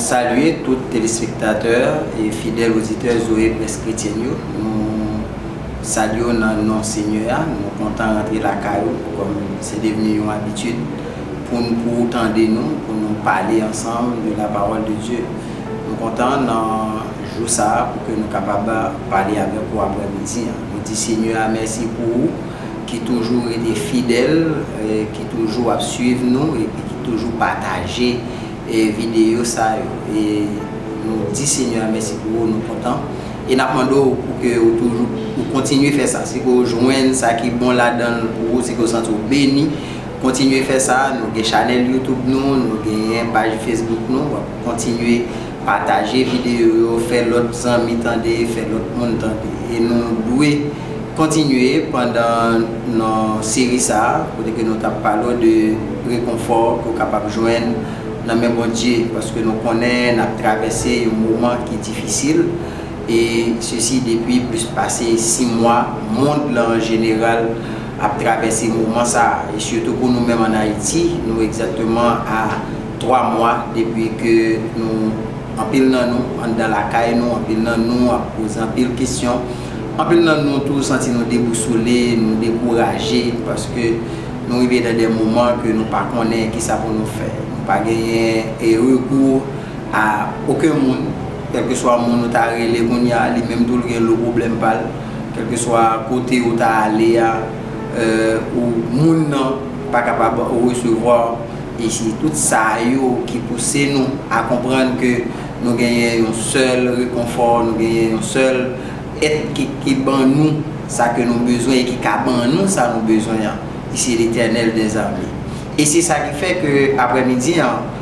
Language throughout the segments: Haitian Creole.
Salye tout telespektatè e fidèl oditè Zoe Presse Chrétienne yo. Nou salye w nan non Senyè a. Nou kontan rantre lakay ou kòm se devni yon abitid. pou n pou ou tande nou, pou nou pale ansanm de la pawòl de Dye. Nou kontan nan jou sa a pou ke nou kapab pale avèk ou aprè midi an. Nou di Senyè a mèsi pou ou ki toujou rete fidèl, ki toujou ap swiv nou epi ki toujou pataje videyo sa yo. E nou di Senyè a mèsi pou ou, nou kontan e n ap mande ou pou ke ou toujou, ou kontinye fè sa. Si ke ou jwenn sa ki bon ladan l pou ou, si ke ou santi ou beni, Kontinye fè sa, nou gen chanèl YouTube nou, nou genyen paj Facebook nou, wap kontinye pataje videyo yo, fè lòt zanmi tande, fè lòt moun tande. E nou dwe kontinye pandan nan seri sa a, kote ke nou tap pale w de rekonfò ke w kapab jwenn nan men Bondye, paske nou konnen nap travèse yon moman ki difisil, e sesi depi plis pase 6 mwa, mond lan an jeneral. ap travèse moman sa a, e sitou pou nou menm an Ayiti, nou egzakteman a 3 mwa depi ke nou, anpil nan nou, anndan lakay nou, anpil nan nou ap poze anpil kesyon, anpil nan nou tou santi nou debousole, nou dekouraje, paske nou rive nan de moman ke nou pa konnen ki sa pou nou fè. Nou pa genyen rekou a oken moun, kèlkeswa moun ou ta rele kounye a, li menm tou l gen lo pwoblèm pa l. Kèlkeswa kote ou ta ale a, ou moun nan pa kapab resevwa w. E se tout sa yo ki pouse nou a konprann ke nou genyen yon sèl rekonfò, nou genyen yon sèl Èt ki ban nou sa ke nou bezwen e ki ka ban nou sa nou bezwen an, e se Letènèl dèzame. E se sa ki fè ke aprèmidi an,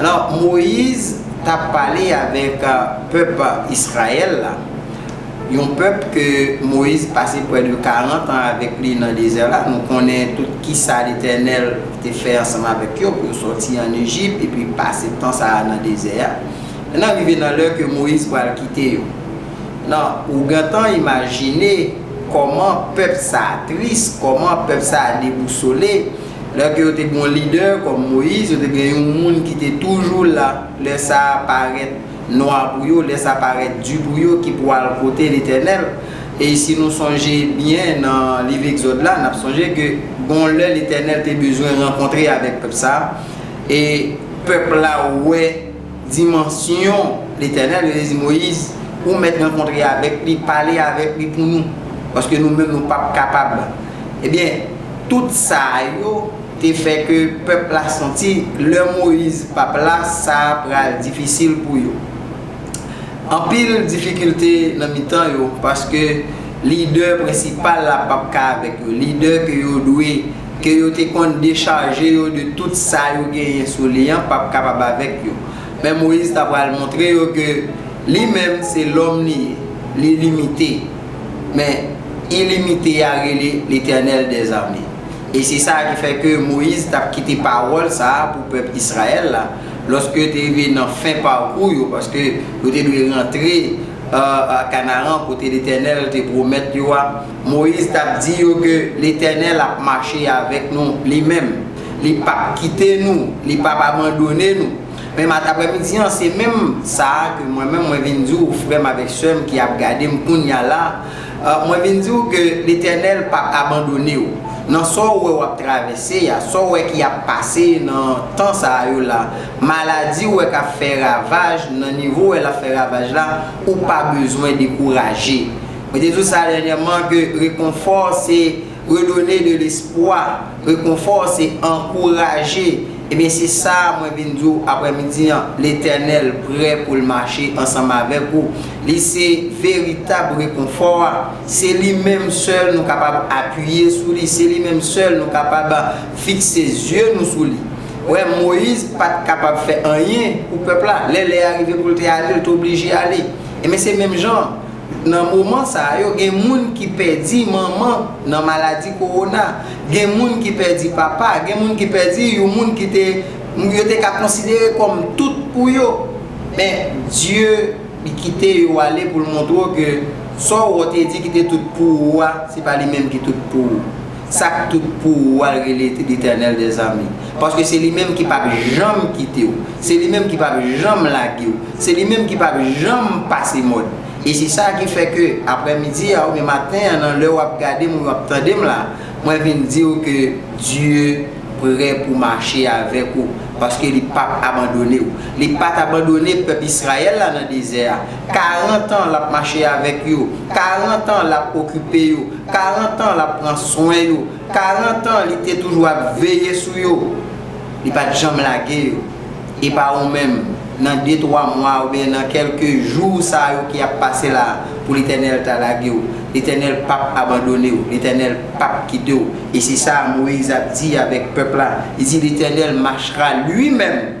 Alò, Moyiz t ap pale avèk pèp Izrayèl la, yon pèp ke Moyiz pase pwè de karantan avèk li nan dezè la. Nou konnen tout kisa Letènèl te fè ansanm avèk yo pou yo sòti ann Ejip epi pase tan sa a nan dezè a. Nan rive nan lè ke Moyiz pral kite yo. Nan, ou gentan imajine kòman pèp sa a tris, kòman pèp sa a debousole. Lè ke yo te gen yon lidè kòm Moyiz, yo te gen yon moun ki te toujou la lè sa parèt nwa pou yo, lè sa parèt di pou yo ki pou al kote Letènèl. E si nou sonje byen nan liv Egzòd la, n'ap sonje ke gon lè Letènèl te bezwen rankontre avèk pèp sa, e pèp la wè. Dimansyon, Letènèl, yo te di Moyiz, Ou mèt rankontre avèk li, pale avèk li pou nou, paske nou menm nou pap kapab. Ebyen, tout sa yo te fè ke pèp la santi lè Moyiz pap la, sa pral difisil pou yo. Anpil difikilte nan mitan yo, paske lidè prensipal la pap ka avèk yo, lidè ke yo dwe. Ke yo te konn dechaje yo de tout sa yo genyen sou li an pap kapab avèk yo. Men Moyiz ta pral montre yo ke li menm se lòm li ye, li limite. Men, ilimite a rele Letènèl dè zame. E se sa ki fè ke Moyiz tap kite pawòl sa a pou pèp Israèl la, lòske yo te rive nan fen pakou yo, paske yo te dwe rantre Kanaran kote Letènèl te pwomèt yo a. Moyiz t ap di yo ke Letènèl ap mache avèk nou li menm. Li p ap kite nou, li p ap abandone nou. Men matapremidi an, se menm sa a ke mwen menm mwen vin di ou frè m avèk sè m ki ap gade m kounya la a, mwen vin di ou ke Letènèl p ap abandone ou. Nan sa w wè w ap travèse a, sa w wè ki ap pase nan tan sa a yo la, maladi w wè k ap fè ravaj nan nivo w wè l ap fè ravaj la, ou pa bezwen dekouraje. Mwen te di w sa dènyèman ke rekonfò se redonner de l'espoir, rekonfò se ankouraje. Ebyen se sa mwen vin di w aprèmidi an, Letènèl prè pou l mache ansanm avèk ou. Li se veritab rekonfò a. Se li menm sèl nou kapab apiye sou li, se li menm sèl nou kapab fikse zye nou sou li. Ou wè, Moyiz pa t kapab fè anyen pou pèp la. Lè lè a rive pou l te ale, l te oblije ale. Ebyen se menm jan. Nan moman sa yo gen moun ki pèdi manman nan maladi kowona, gen moun ki pèdi papa, gen moun ki pèdi yon moun ki te yo te ka konsidere kòm tout pou yo. Men, Dye li kite yo ale pou l montre w ke sa w te di ki te tout pou ou a, se pa li menm ki tout pou ou. Sak tout pou ou al rele Letènèl dè zame paske se li menm ki pap janm kitew se li menm ki pap janm lagew se li menm ki pap janm pase mòd e se sa ki fè ke aprè midi a ou byen maten an nan lè wap gadem ou wap tandem la mwen vin diw ke Dye prè pou mache avèk ou paske li pap abandonew li pat abandone pèp Israël la nan dezè a 40 ans lap mache avèk yo 40 ans lap okipe yo 40 ans lap pran swen yo, 40 ans li te toujou ap veye sou yo, li pat janm lage yo, epa ou menm nan de twa mwa oubyen nan kelke jou sa yo ki ap pase la pou Letènèl ta lagew, Letènèl pap abandonew, Letènèl pap kitew, e se sa Moïse ap di avèk pèp la, li di Letènèl machra lui-même.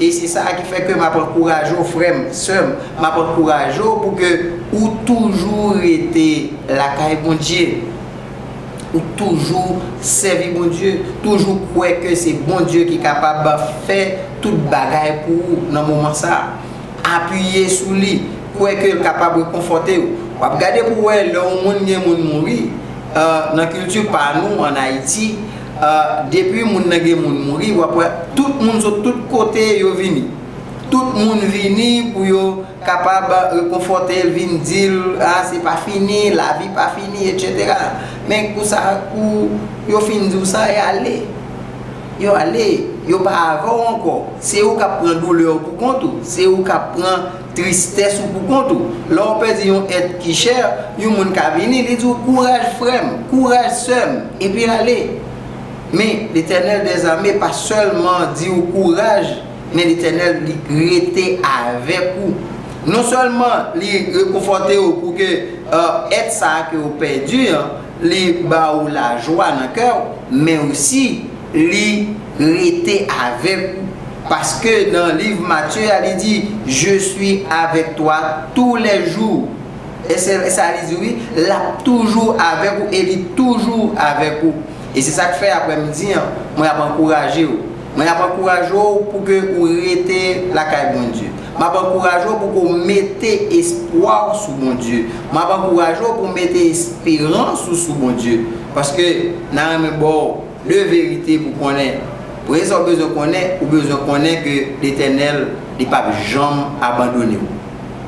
E se sa a ki fè ke m ap ankouraje w frè m, sè m, m ap ankouraje w pou ke ou toujou rete lakay Bondye, ou toujou sèvi Bondye, toujou kwè ke se Bondye ki kapab fè tout bagay pou ou nan moman sa a. Apiye sou li, kwè ke l kapab rekonfòte w. W ap gade pou w wè lè yon moun gen moun mouri, nan kilti pa nou an Ayiti, Depi moun nan gen moun mouri wap wè tout moun sot tout kote yo vini. Tout moun vini pou yo kapab rekonfòtel, vin dil ah se pa fini, lavi pa fini etc. Men kou sa kou yo fin diw sa e ale. Yo ale, yo pa avèw ankò. Se ou kap pran doulèw pou kont ou, se ou kap pran. Tristès ou pou kont ou. Lè ou pèdi yon èt ki chè, yon moun ka vini, li di w, Kouraj frè m! Kouraj sè m! epi ale. Men, Letènèl dèzame pa sèlman di ou kouraj, men Letènèl li rete avèk ou. Non sèlman li rekonfòte ou pou ke èt sa a ke ou pèdi an, Li ba ou lajwa nan kè ou, men osi li rete avèk ou. Paske nan liv Matye a li di, Je suis avec toi tous les jours. E se sa li di wi, l ap toujou avèk ou e li toujou avèk ou. E se sa k fè aprè midi an, mwen ap ankouraje ou. Mwen ap ankouraje w pou ke ou rete lakay Bondye. M ap ankouraje w pou ke w mete espwa w sou Bondye. M ap ankouraje w pou w mete esperans ou sou Bondye. Paske nan renmen ba w 2 verite pou w konnen. Premye sa w bezwen konnen, ou bezwen konnen ke Letènèl, Li pap janm abandone w.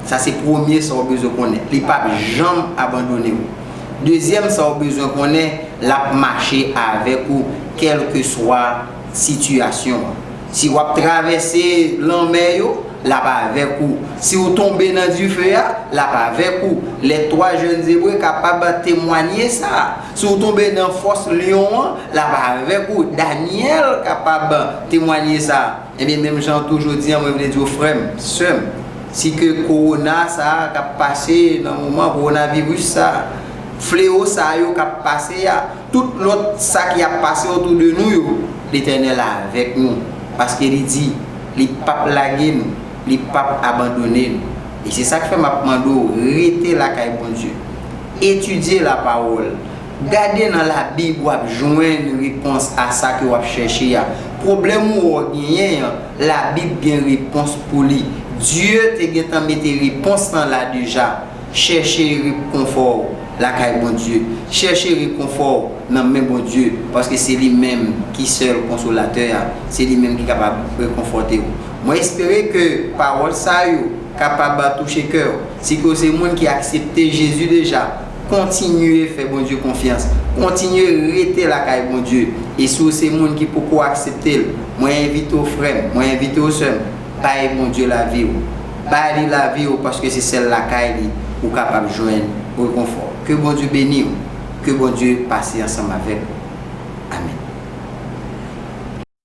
Sa se premye sa w bezwen konnen. Li pap janm abandone w. Dezyèm sa ou bezwen konnen lap mache avèk ou kèlkeswa sitiyasyon an. Si wap travèse lanmè yo, lap avèk ou. Si ou tonbe nan dife a, lap avèk ou. Les trois jeunes Ebre kapab temwanye sa. Si ou tonbe nan fòs lyon an, lap avèk ou. Daniel kapab temwanye sa. Ebyen menm jan tou jodi an mwen vle diw frèm, sèm, si ke kowona sa a kap pase nan moman kowona viris sa a, flewo sa yo kap pase a, tout lòt sa ki ap pase otou de nou yo, Letènèl avèk nou, paske li di li pap lage nou, li pap abandone nou. E se sak fè map mande w rete lakay Bondye. Etidye lapawòl, Gade nan labib wap jwenn repons a sa ke wap chèche a. Pwoblèm ou wè w genyen an, labib gen repons pou li. Dye te gentan mete repons lan la deja. Chèche repkonfò w lakay Bondye. Chèche rekonfò w nan men Bondye paske se li menm ki sèl konsolatè a. Se li menm ki kapab rekonfòte w. Mwen espere ke pawòl sa yo kapab touche kè w. Si ke w se moun ki aksepte Jezi deja. Kontinye fè Bondye konfyans. Kontinye rete lakay Bondye. E si w se moun ki poko aksepte l, mwen envite w frè m, mwen envite w sè m, bay Bondye lavi w. Ba li lavi w paske se sèl lakay li ou kapab jwenn rekonfò. Ke Bondye beni w. Ke Bondye pase ansanm avèk ou. Amen.